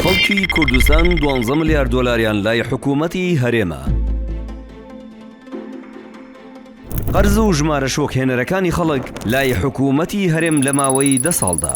خەڵکی کوردستان دوانزە ملیار دۆلاریان لای حکوومەتی هەرێمە. قەرز و ژمارە شۆکهێنەرەکانی خەڵک لای حکوومەتی هەرێم لە ماوەی دە ساڵدا.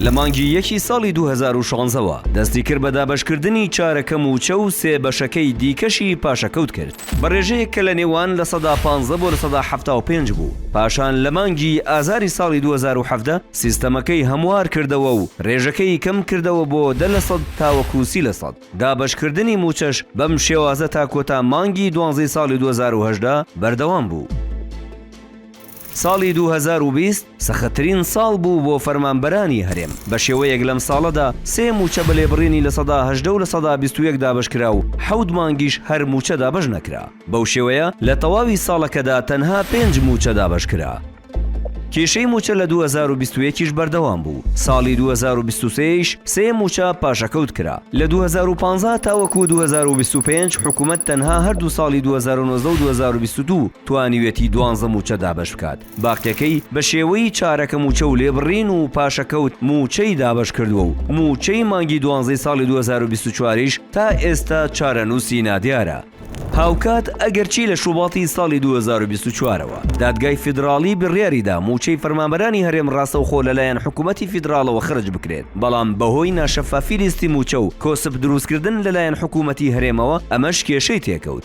لە مانگی یەکی ساڵی دوو هەزار و شانزە وە دەستی کرد بە دابەشکردنی چارەکە مووچە و سێ بەشەکەی دیکەشی پاشەکەوت کرد بە رێژەیەک کە لە نێوان لە سەدا پانزە بۆ لە سەدا حەفتا و پێنج بوو پاشان لە مانگی ئازاری ساڵی دوو هەزار و حەڤدە سیستەمەکەی هەموار کردەوە و رێژەکەی کەم کردەوە بۆ دە لە سەد تاوەکو سی لە سەد دابەشکردنی مووچەش بەم شێوازە تا کۆتا مانگی دوانزەی ساڵی دوو هەزار و هەژدە بەردەوام بوو. ساڵی دوو هەزار و بیست سەختترین ساڵ بوو بۆ فەرمانبەرانی هەرێم، بەشێوەیەک لەم ساڵەدا سێ مووچە بە لێبڕینی لە سەدا هەژدە و لە سەدا بیست و یەک دابەشکرا و حەوت مانگیش هەر مووچە دابەش نەکرا، بەو شێوەیە لە تەواوی ساڵەکەدا تەنها پێنج مووچە دابەشکرا. کێشەی مووچە لە دوو هەزار و بیست و یەک یش بەردەوام بوو، ساڵی دوو هەزار و بیست و سێ یش سێ مووچە پاشەکەوت کرا، لە دوو هەزار و پازدە تاوەکو دوو هەزار و بیست و پێنج حکومەت تەنها هەردوو ساڵی دوو هەزار و نۆزدە و دوو هەزار و بیست و دوو، توانیوێتی دوانزە مووچە دابەش بکات، باقیەکەی بە شێوەی چارەکە مووچە و لێبڕین و پاشەکەوت مووچەی دابەش کردووە و مووچەی مانگی دوانزەی ساڵی دوو هەزار و بیست و چوار یش تا ئێستا چارەنووسی نادیارە. هاوکات ئەگەرچی لە شوباتی ساڵی دوو هەزار و بیست و چوار ەوە دادگای فیدراڵی بڕیاری دا مووچەی فەرمانبەرانی هەرێم ڕاستەوخۆ لەلایەن حکوومەتی فیدراڵەوە خەرج بکرێت بەڵام بەهۆی ناشەفافی لیستی مووچە و کۆسپ درووستکردن لەلایەن حکوومەتی هەرێمەوە ئەمەش کێشەی تێکەوت.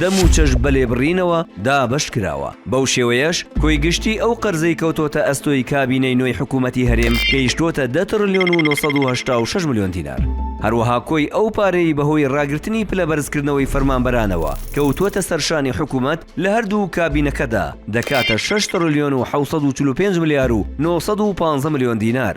دەم و چەش بە لێبڕینەوە دابەش کراوە، بەو شێوەیەش کۆی گشتیی ئەو قەرزەی کەوتۆتە ئەستۆی کابینەی نوێی حکوومەتی هەرێم گەیشتۆتە دە تڕلیۆن و نۆ سەد و هەشتا و شەش ملیۆن دینار، هەروەها کۆی ئەو پارەی بەهۆی ڕاگرتنی پلە بەرزکردنەوەی فەرمانبەرانەوە کەوتووەتە سەر شانی حکوومەت لە هەر دوو کابینەکەدا دەکاتە شەش تڕلیۆن و حەوت سەد و چل و پێنج ملیار و نۆ سەد و پانزە ملیۆن دینار.